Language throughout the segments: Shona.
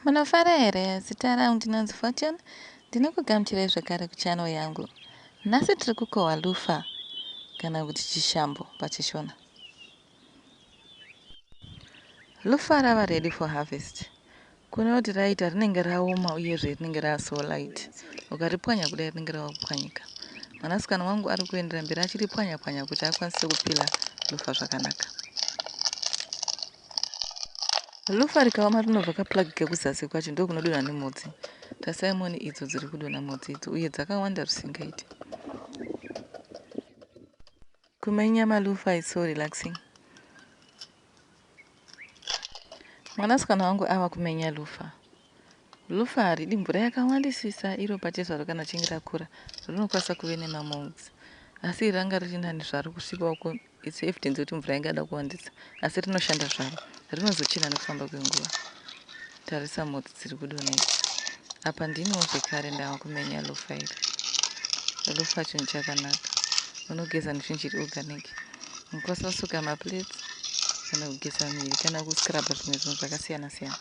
Munofara here? Zita rangu ndinonzi Fortune. Ndinokugamuchirai zvakare kuchannel yangu. Nhasi tiri kukohwa lufa kana kuti chishambo paChishona. Lufa rava ready for harvest. Kune kuti raita rinenge raoma uyezve rinenge rava so light. Ukaripwanya kudai rinenge rava kupwanyika. Mwanasikana wangu ari kuendera mberi achiripwanya-pwanya kuti akwanise kupila lufa zvakanaka. Rufa rikaoma rinobva kaplug kekuzasi kwacho ndokunodonha nemhodzi. Tarisai muone idzo dziri kudonha mhodzi idzo uye dzakawanda zvisingaiti. Kumenya malufa is so relaxing. Mwanasikana wangu ava kumenya lufa. Lufa haridi mvura yakawandisisa iro pachezvaro kana richinge rakura rinokwanisa kuve nemamolds asi iri ranga riri nani zvaro kusvika uko It's evidence yekuti mvura yanga yada kuwandisa asi rinoshanda zvaro. Rinozochena nekufamba kwenguva. Tarisa mhodzi dziri kudonha idzi. Apa ndiniwo zvekare ndava kumenya lofa iri. Lofa chinhu chakanaka. Unogeza nefingiri organic. Unokwanisa kusuka maplates kana kugeza miri kana kuscrubba zvimwe zvinhu zvakasiyana siyana.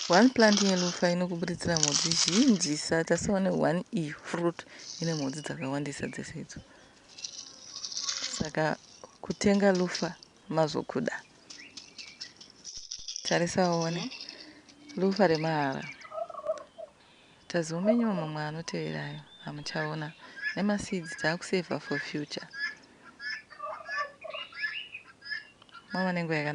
One plant yelofa inokuburidzira mhodzi zhinjisa. Tarisawo ne one iyi fruit ine mhodzi dzakawandisa dzese idzo. Saka kutenga lufa mazokuda. Tarisa uone. Lufa remahara. Tazomenyiwa mamwe anotevera ayo hamuchaona. Nemaseeds taakusevha for future. Mava nenguva yakanaka.